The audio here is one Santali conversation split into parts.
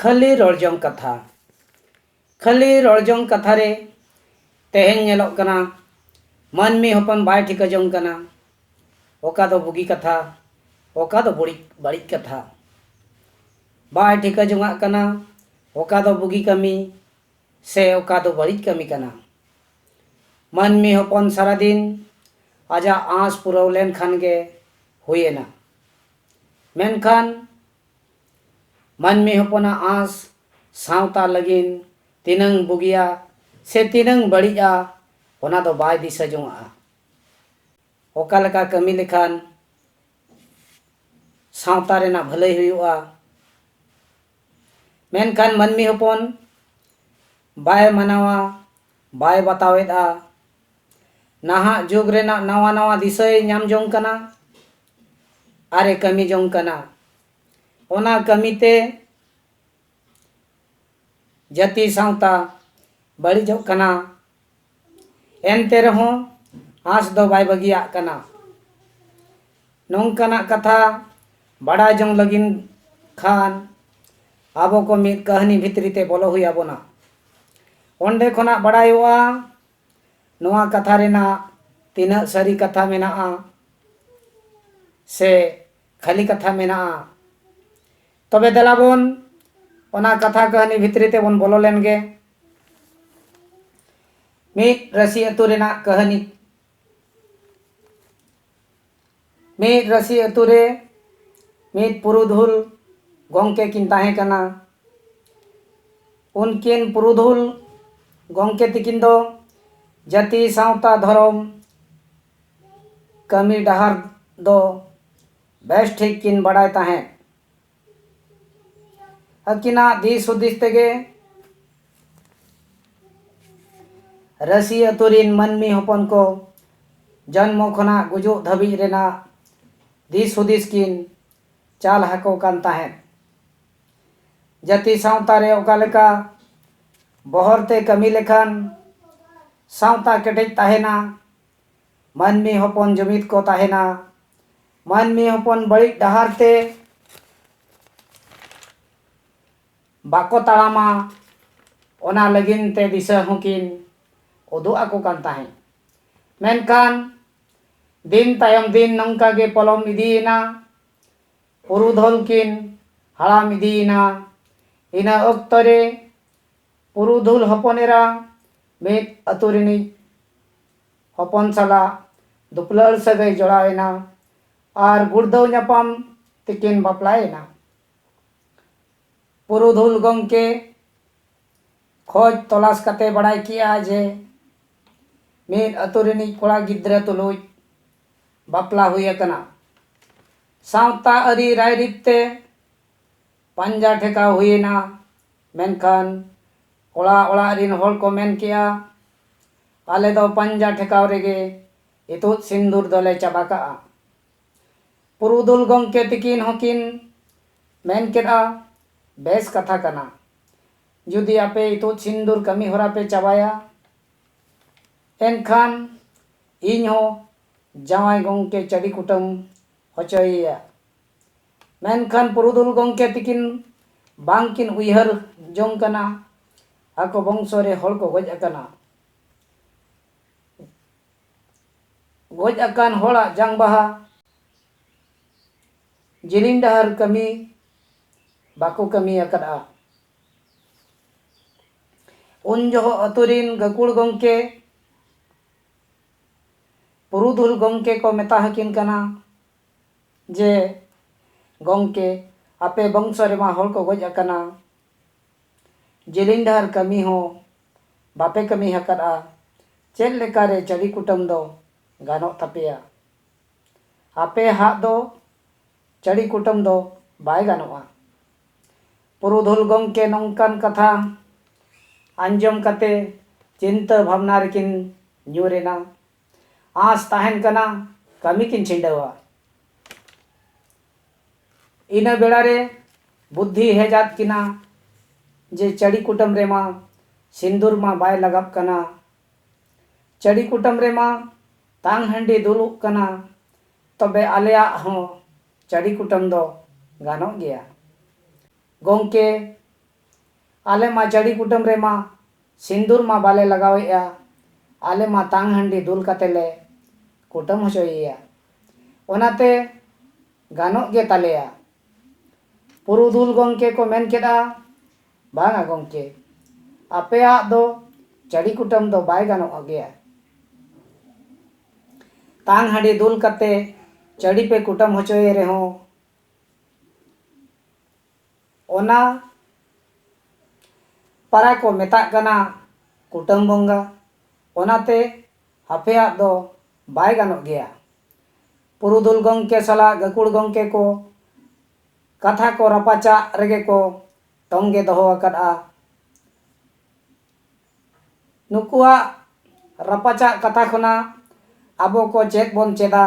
ᱠᱷᱟᱹᱞᱤ ᱨᱚᱲᱡᱚᱝ ᱠᱟᱛᱷᱟ ᱠᱷᱟᱹᱞᱤ ᱨᱚᱲᱡᱚᱝ ᱠᱟᱛᱷᱟ ᱨᱮ ᱛᱮᱦᱮᱧ ᱧᱮᱞᱚᱜ ᱠᱟᱱᱟ ᱢᱟᱹᱱᱢᱤ ᱦᱚᱯᱚᱱ ᱵᱟᱭ ᱴᱷᱤᱠᱟᱹ ᱡᱚᱝ ᱠᱟᱱᱟ ᱚᱠᱟ ᱫᱚ ᱵᱩᱜᱤ ᱠᱟᱛᱷᱟ ᱚᱠᱟ ᱫᱚ ᱵᱟᱹᱲᱤᱡ ᱵᱟᱹᱲᱤᱡ ᱠᱟᱛᱷᱟ ᱵᱟᱭ ᱴᱷᱤᱠᱟᱹ ᱡᱚᱝᱟᱜ ᱠᱟᱱᱟ ᱚᱠᱟ ᱫᱚ ᱵᱩᱜᱤ ᱠᱟᱹᱢᱤ ᱥᱮ ᱚᱠᱟ ᱫᱚ ᱵᱟᱹᱲᱤᱡ ᱠᱟᱹᱢᱤ ᱠᱟᱱᱟ ᱢᱟᱹᱱᱢᱤ ᱦᱚᱯᱚᱱ ᱥᱟᱨᱟᱫᱤᱱ ᱟᱡᱟᱜ ᱟᱸᱥ ᱯᱩᱨᱟᱹᱣ ᱞᱮᱱᱠᱷᱟᱱ ᱜᱮ ᱦᱩᱭᱮᱱᱟ ᱢᱮᱱᱠᱷᱟᱱ ᱢᱟᱹᱱᱢᱤ ᱦᱚᱯᱚᱱᱟᱜ ᱟᱸᱥ ᱥᱟᱶᱛᱟ ᱞᱟᱹᱜᱤᱫ ᱛᱤᱱᱟᱹᱝ ᱵᱩᱜᱤᱭᱟ ᱥᱮ ᱛᱤᱱᱟᱹᱝ ᱵᱟᱹᱲᱤᱡᱼᱟ ᱚᱱᱟ ᱫᱚ ᱵᱟᱭ ᱫᱤᱥᱟᱹ ᱡᱚᱝᱟᱜᱼᱟ ᱚᱠᱟ ᱞᱮᱠᱟ ᱠᱟᱹᱢᱤ ᱞᱮᱠᱷᱟᱱ ᱥᱟᱶᱛᱟ ᱨᱮᱱᱟᱜ ᱵᱷᱟᱹᱞᱟᱹᱭ ᱦᱩᱭᱩᱜᱼᱟ ᱢᱮᱱᱠᱷᱟᱱ ᱢᱟᱹᱱᱢᱤ ᱦᱚᱯᱚᱱ ᱵᱟᱭ ᱢᱟᱱᱟᱣᱟ ᱵᱟᱭ ᱵᱟᱛᱟᱣᱮᱫᱼᱟ ᱱᱟᱦᱟᱜ ᱡᱩᱜᱽ ᱨᱮᱱᱟᱜ ᱱᱟᱣᱟ ᱱᱟᱣᱟ ᱫᱤᱥᱟᱹᱭ ᱧᱟᱢ ᱡᱚᱝ ᱠᱟᱱᱟ ᱟᱨ ᱮ ᱠᱟᱹᱢᱤ ᱡᱚᱝ ᱠᱟᱱᱟ ᱚᱱᱟ ᱠᱟᱹᱢᱤ ᱛᱮ ᱡᱟᱹᱛᱤ ᱥᱟᱶᱛᱟ ᱵᱟᱹᱲᱤᱡᱚᱜ ᱠᱟᱱᱟ ᱮᱱᱛᱮ ᱨᱮᱦᱚᱸ ᱟᱸᱥ ᱫᱚ ᱵᱟᱭ ᱵᱟᱹᱜᱤᱭᱟᱜ ᱠᱟᱱᱟ ᱱᱚᱝᱠᱟᱱᱟᱜ ᱠᱟᱛᱷᱟ ᱵᱟᱰᱟᱭ ᱡᱚᱝ ᱞᱟᱹᱜᱤᱫ ᱠᱷᱟᱱ ᱟᱵᱚ ᱠᱚ ᱢᱤᱫ ᱠᱟᱹᱦᱱᱤ ᱵᱷᱤᱛᱨᱤ ᱛᱮ ᱵᱚᱞᱚ ᱦᱩᱭ ᱟᱵᱚᱱᱟ ᱚᱸᱰᱮ ᱠᱷᱚᱱᱟᱜ ᱵᱟᱰᱟᱭᱚᱜᱼᱟ ᱱᱚᱣᱟ ᱠᱟᱛᱷᱟ ᱨᱮᱱᱟᱜ ᱛᱤᱱᱟᱹᱜ ᱥᱟᱹᱨᱤ ᱠᱟᱛᱷᱟ ᱢᱮᱱᱟᱜᱼᱟ ᱥᱮ ᱠᱷᱟᱹᱞᱤ ᱠᱟᱛᱷᱟ ᱢᱮᱱᱟᱜᱼᱟ ᱛᱚᱵᱮ ᱫᱮᱞᱟ ᱵᱚᱱ ᱚᱱᱟ ᱠᱟᱛᱷᱟ ᱠᱟᱹᱦᱱᱤ ᱵᱷᱤᱛᱨᱤ ᱛᱮᱵᱚᱱ ᱵᱚᱞᱚ ᱞᱮᱱ ᱜᱮ ᱢᱤᱫ ᱨᱟᱹᱥᱤ ᱟᱹᱛᱩ ᱨᱮᱱᱟᱜ ᱠᱟᱹᱦᱱᱤ ᱢᱤᱫ ᱨᱟᱹᱥᱤ ᱟᱹᱛᱩ ᱨᱮ ᱢᱤᱫ ᱯᱩᱨᱩᱫᱷᱩᱞ ᱜᱚᱝᱠᱮ ᱠᱤᱱ ᱛᱟᱦᱮᱸ ᱠᱟᱱᱟ ᱩᱱᱠᱤᱱ ᱯᱩᱨᱩᱫᱷᱩᱞ ᱜᱚᱝᱠᱮ ᱛᱤᱠᱤᱱ ᱫᱚ ᱡᱟᱹᱛᱤ ᱥᱟᱶᱛᱟ ᱫᱷᱚᱨᱚᱢ ᱠᱟᱹᱢᱤ ᱰᱟᱦᱟᱨ ᱫᱚ ᱵᱮᱥ ᱴᱷᱤᱠ ᱠᱤᱱ ᱵᱟᱰᱟᱭ ᱛᱟᱦᱮᱸᱫ ᱟᱹᱠᱤᱱᱟᱜ ᱫᱤᱥ ᱦᱩᱫᱤᱥ ᱛᱮᱜᱮ ᱨᱟᱹᱥᱤ ᱟᱹᱛᱩ ᱨᱤᱱ ᱢᱟᱹᱱᱢᱤ ᱦᱚᱯᱚᱱ ᱠᱚ ᱡᱚᱱᱢᱚ ᱠᱷᱚᱱᱟᱜ ᱜᱩᱡᱩᱜ ᱫᱷᱟᱹᱵᱤᱡ ᱨᱮᱱᱟᱜ ᱫᱤᱥ ᱦᱩᱫᱤᱥ ᱠᱤᱱ ᱪᱟᱞ ᱟᱠᱚ ᱠᱟᱱ ᱛᱟᱦᱮᱸᱫ ᱡᱟᱹᱛᱤ ᱥᱟᱶᱛᱟ ᱨᱮ ᱚᱠᱟ ᱞᱮᱠᱟ ᱵᱚᱦᱚᱨ ᱛᱮ ᱠᱟᱹᱢᱤ ᱞᱮᱠᱷᱟᱱ ᱥᱟᱶᱛᱟ ᱠᱮᱴᱮᱡ ᱛᱟᱦᱮᱱᱟ ᱢᱟᱹᱱᱢᱤ ᱦᱚᱯᱚᱱ ᱡᱩᱢᱤᱫ ᱠᱚ ᱛᱟᱦᱮᱱᱟ᱾ ᱢᱟᱹᱱᱢᱤ ᱦᱚᱯᱚᱱ ᱵᱟᱹᱲᱤᱡ ᱰᱟᱦᱟᱨ ᱛᱮ ᱵᱟᱠᱚ ᱛᱟᱲᱟᱢᱟ ᱚᱱᱟ ᱞᱟᱹᱜᱤᱱ ᱛᱮ ᱫᱤᱥᱟᱹ ᱦᱚᱸ ᱠᱤᱱ ᱩᱫᱩᱜ ᱟᱠᱚ ᱠᱟᱱ ᱛᱟᱦᱮᱸᱫ᱾ ᱢᱮᱱᱠᱷᱟᱱ ᱫᱤᱱ ᱛᱟᱭᱚᱢ ᱫᱤᱱ ᱱᱚᱝᱠᱟ ᱜᱮ ᱯᱚᱞᱚᱢ ᱤᱫᱤᱭᱮᱱᱟ᱾ ᱯᱩᱨᱩᱫᱷᱚᱞ ᱠᱤᱱ ᱦᱟᱲᱟᱢ ᱤᱫᱤᱭᱮᱱᱟ᱾ ᱤᱱᱟᱹ ᱚᱠᱛᱚ ᱨᱮ ᱯᱩᱨᱩᱫᱷᱩᱞ ᱦᱚᱯᱚᱱ ᱮᱨᱟ ᱢᱤᱫ ᱟᱹᱛᱩ ᱨᱤᱱᱤᱡ᱾ ᱦᱚᱯᱚᱱ ᱥᱟᱞᱟᱜ ᱫᱩᱯᱞᱟᱹᱲ ᱥᱟᱹᱜᱟᱹᱭ ᱡᱚᱲᱟᱣ ᱮᱱᱟ ᱟᱨ ᱜᱩᱲᱫᱟᱹᱣ ᱧᱟᱯᱟᱢ ᱛᱮᱠᱤᱱ ᱵᱟᱯᱞᱟ ᱮᱱᱟ᱾ ᱯᱩᱨᱩᱫᱷᱩᱞ ᱜᱚᱢᱠᱮ ᱠᱷᱚᱡᱽ ᱛᱚᱞᱟᱥ ᱠᱟᱛᱮ ᱵᱟᱲᱟᱭ ᱠᱮᱜᱼᱟ ᱡᱮ ᱢᱤᱫ ᱟᱹᱛᱩ ᱨᱤᱱᱤᱡ ᱠᱚᱲᱟ ᱜᱤᱫᱽᱨᱟᱹ ᱛᱩᱞᱩᱡ ᱵᱟᱯᱞᱟ ᱦᱩᱭ ᱟᱠᱟᱱᱟ᱾ ᱥᱟᱶᱛᱟ ᱟᱹᱨᱤ ᱨᱟᱭᱨᱤᱛ ᱛᱮ ᱯᱟᱧᱡᱟ ᱴᱷᱮᱠᱟᱣ ᱦᱩᱭ ᱮᱱᱟ᱾ ᱢᱮᱱᱠᱷᱟᱱ ᱠᱚᱲᱟ ᱚᱲᱟᱜ ᱨᱤᱱ ᱦᱚᱲ ᱠᱚ ᱢᱮᱱ ᱠᱮᱜᱼᱟ᱾ ᱟᱞᱮ ᱫᱚ ᱯᱟᱧᱡᱟ ᱴᱷᱮᱠᱟᱣ ᱨᱮᱜᱮ ᱤᱛᱩᱫ ᱥᱤᱱᱫᱩᱨ ᱫᱚᱞᱮ ᱪᱟᱵᱟ ᱠᱟᱜᱼᱟ᱾ ᱯᱩᱨᱩᱫᱷᱩᱞ ᱜᱚᱢᱠᱮ ᱛᱤᱠᱤᱱ ᱦᱚᱸ ᱠᱤᱱ ᱢᱮᱱ ᱠᱮᱫᱼᱟ, ᱵᱮᱥ ᱠᱟᱛᱷᱟ ᱠᱟᱱᱟ᱾ ᱡᱩᱫᱤ ᱟᱯᱮ ᱤᱛᱩᱫ ᱥᱤᱱᱫᱩᱨ ᱠᱟᱹᱢᱤ ᱦᱚᱨᱟ ᱯᱮ ᱪᱟᱵᱟᱭᱟ, ᱮᱱᱠᱷᱟᱱ ᱤᱧ ᱦᱚᱸ ᱡᱟᱶᱟᱭ ᱜᱚᱢᱠᱮ ᱪᱟᱹᱰᱤ ᱠᱩᱴᱟᱹᱢ ᱦᱚᱪᱚᱭᱮᱭᱟ᱾ ᱢᱮᱱᱠᱷᱟᱱ ᱯᱩᱨᱩᱫᱷᱩᱞ ᱜᱚᱢᱠᱮ ᱛᱤᱠᱤᱱ ᱵᱟᱝ ᱠᱤᱱ ᱩᱭᱦᱟᱹᱨ ᱡᱚᱝ ᱠᱟᱱᱟ᱾ ᱟᱠᱚ ᱵᱚᱝᱥᱚ ᱨᱮ ᱦᱚᱲ ᱠᱚ ᱜᱚᱡ ᱟᱠᱟᱱᱟ᱾ ᱜᱚᱡ ᱟᱠᱟᱱ ᱦᱚᱲᱟᱜ ᱡᱟᱝ ᱵᱟᱦᱟ ᱡᱤᱞᱤᱧ ᱰᱟᱦᱟᱨ ᱠᱟᱹᱢᱤ ᱵᱟᱠᱚ ᱠᱟᱹᱢᱤ ᱟᱠᱟᱫᱼᱟ᱾ ᱩᱱ ᱡᱚᱦᱚᱜ ᱟᱹᱛᱩ ᱨᱤᱱ ᱜᱟᱹᱠᱩᱲ ᱜᱚᱢᱠᱮ, ᱯᱩᱨᱩᱫᱷᱩᱞ ᱜᱚᱢᱠᱮ ᱠᱚ ᱢᱮᱛᱟ ᱦᱟᱹᱠᱤᱱ ᱠᱟᱱᱟ ᱡᱮ, ᱜᱚᱢᱠᱮ, ᱟᱯᱮ ᱵᱚᱝᱥᱚ ᱨᱮᱢᱟ ᱦᱚᱲ ᱠᱚ ᱜᱚᱡ ᱟᱠᱟᱱᱟ᱾ ᱡᱮᱞᱮᱧ ᱰᱟᱦᱟᱨ ᱠᱟᱹᱢᱤ ᱦᱚᱸ ᱵᱟᱯᱮ ᱠᱟᱹᱢᱤ ᱦᱟᱠᱟᱫᱼᱟ ᱪᱮᱫ ᱞᱮᱠᱟ ᱨᱮ ᱪᱟᱹᱰᱤ ᱠᱩᱴᱟᱹᱢ ᱫᱚ ᱜᱟᱱᱚᱜ ᱛᱟᱯᱮᱭᱟ ᱟᱯᱮ ᱦᱟᱜ ᱫᱚ ᱪᱟᱹᱰᱤ ᱠᱩᱴᱟᱹᱢ ᱫᱚ ᱵᱟᱭ ᱜᱟᱱᱚᱜᱼᱟ ᱯᱩᱨᱩᱫᱷᱩᱞ ᱜᱚᱢᱠᱮ ᱱᱚᱝᱠᱟᱱ ᱠᱟᱛᱷᱟ ᱟᱸᱡᱚᱢ ᱠᱟᱛᱮ ᱪᱤᱱᱛᱟᱹ ᱵᱷᱟᱵᱽᱱᱟ ᱨᱮᱠᱤᱱ ᱧᱩᱨ ᱮᱱᱟ ᱟᱸᱥ ᱛᱟᱦᱮᱱ ᱠᱟᱱᱟ ᱠᱟᱹᱢᱤ ᱠᱤᱱ ᱪᱷᱤᱸᱰᱟᱹᱣᱟ ᱤᱱᱟᱹ ᱵᱮᱲᱟ ᱨᱮ ᱵᱩᱫᱽᱫᱷᱤ ᱦᱮᱡ ᱟᱫ ᱠᱤᱱᱟ ᱡᱮ ᱪᱟᱹᱰᱤ ᱠᱩᱴᱟᱹᱢ ᱨᱮᱢᱟ ᱥᱤᱸᱫᱩᱨ ᱢᱟ ᱵᱟᱭ ᱞᱟᱜᱟᱵ ᱠᱟᱱᱟ ᱪᱟᱹᱰᱤ ᱠᱩᱴᱟᱹᱢ ᱨᱮᱢᱟ ᱛᱟᱝ ᱦᱟᱺᱰᱤ ᱫᱩᱞᱩᱜ ᱠᱟᱱᱟ ᱛᱚᱵᱮ ᱟᱞᱮᱭᱟᱜ ᱦᱚᱸ ᱪᱟᱹᱰᱤ ᱠᱩᱴᱟᱹᱢ ᱫᱚ ᱜᱟᱱᱚᱜ ᱜᱮᱭᱟ ᱜᱚᱢᱠᱮ ᱟᱞᱮ ᱢᱟ ᱪᱟᱹᱰᱤ ᱠᱩᱴᱟᱹᱢ ᱨᱮ ᱢᱟ ᱥᱤᱱᱫᱩᱨ ᱢᱟ ᱵᱟᱞᱮ ᱞᱟᱜᱟᱣ ᱮᱫᱼᱟ ᱟᱞᱮ ᱢᱟ ᱛᱟᱝ ᱦᱟᱺᱰᱤ ᱫᱩᱞ ᱠᱟᱛᱮ ᱞᱮ ᱠᱩᱴᱟᱹᱢ ᱦᱚᱪᱚᱭᱮᱭᱟ ᱚᱱᱟᱛᱮ ᱜᱟᱱᱚᱜ ᱜᱮ ᱛᱟᱞᱮᱭᱟ ᱯᱩᱨᱩᱫᱷᱩᱞ ᱜᱚᱢᱠᱮ ᱠᱚ ᱢᱮᱱ ᱠᱮᱫᱼᱟ ᱵᱟᱝᱟ ᱜᱚᱢᱠᱮ ᱟᱯᱮᱭᱟᱜ ᱫᱚ ᱪᱟᱹᱰᱤ ᱠᱩᱴᱟᱹᱢ ᱫᱚ ᱵᱟᱭ ᱜᱟᱱᱚᱜ ᱜᱮᱭᱟ ᱛᱟᱝ ᱦᱟᱺᱰᱤ ᱫᱩᱞ ᱠᱟᱛᱮ ᱪᱟᱹᱰᱤ ᱯᱮ ᱠᱩᱴᱟᱹᱢ ᱦᱚᱪᱚᱭᱮ ᱨᱮᱦᱚᱸ ᱚᱱᱟ ᱯᱟᱨᱟ ᱠᱚ ᱢᱮᱛᱟᱜ ᱠᱟᱱᱟ ᱠᱩᱴᱟᱹᱢ ᱵᱚᱸᱜᱟ ᱚᱱᱟᱛᱮ ᱟᱯᱮᱭᱟᱜ ᱫᱚ ᱵᱟᱭ ᱜᱟᱱᱚᱜ ᱜᱮᱭᱟ ᱯᱩᱨᱩᱫᱷᱩᱞ ᱜᱚᱢᱠᱮ ᱥᱟᱞᱟᱜ ᱜᱟᱹᱠᱷᱩᱲ ᱜᱚᱢᱠᱮ ᱠᱚ ᱠᱟᱛᱷᱟ ᱠᱚ ᱨᱟᱯᱟᱪᱟᱜ ᱨᱮᱜᱮ ᱠᱚ ᱛᱚᱝᱜᱮ ᱫᱚᱦᱚ ᱟᱠᱟᱫᱼᱟ ᱱᱩᱠᱩᱣᱟᱜ ᱨᱟᱯᱟᱪᱟᱜ ᱠᱟᱛᱷᱟ ᱠᱷᱚᱱᱟᱜ ᱟᱵᱚ ᱠᱚ ᱪᱮᱫ ᱵᱚᱱ ᱪᱮᱫᱟ?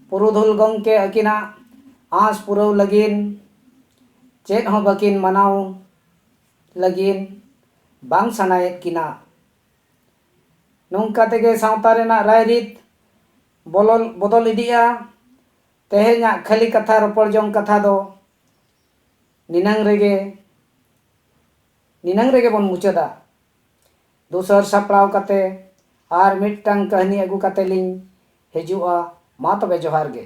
ᱯᱩᱨᱩᱫᱷᱩᱞ ᱜᱚᱢᱠᱮ ᱟᱹᱠᱤᱱᱟᱜ ᱟᱸᱥ ᱯᱩᱨᱟᱹᱣ ᱞᱟᱹᱜᱤᱱ ᱪᱮᱫ ᱦᱚᱸ ᱵᱟᱹᱠᱤᱱ ᱢᱟᱱᱟᱣ ᱞᱟᱹᱜᱤᱱ ᱵᱟᱝ ᱥᱟᱱᱟᱭᱮᱫ ᱠᱤᱱᱟ᱾ ᱱᱚᱝᱠᱟ ᱛᱮᱜᱮ ᱥᱟᱶᱛᱟ ᱨᱮᱱᱟᱜ ᱨᱟᱭ ᱨᱤᱛ ᱵᱚᱞᱚᱞ ᱵᱚᱫᱚᱞ ᱤᱫᱤᱜᱼᱟ᱾ ᱛᱮᱦᱮᱧᱟᱜ ᱠᱷᱟᱹᱞᱤ ᱠᱟᱛᱷᱟ ᱨᱚᱯᱚᱲ ᱡᱚᱝ ᱠᱟᱛᱷᱟ ᱫᱚ ᱱᱤᱱᱟᱹᱝ ᱨᱮᱜᱮ᱾ ᱱᱤᱱᱟᱹᱝ ᱨᱮᱜᱮ ᱵᱚᱱ ᱢᱩᱪᱟᱹᱫᱟ᱾ ᱫᱩᱥᱟᱹᱨ ᱥᱟᱯᱲᱟᱣ ᱠᱟᱛᱮ ᱟᱨ ᱢᱤᱫ ᱴᱟᱝ ᱠᱟᱹᱦᱱᱤ ᱟᱹᱜᱩ ᱠᱟᱛᱮ ᱞᱤᱧ ᱦᱤᱡᱩᱜᱼᱟ ᱢᱟ ᱛᱚᱵᱮ ᱡᱚᱦᱟᱨ ᱜᱮ᱾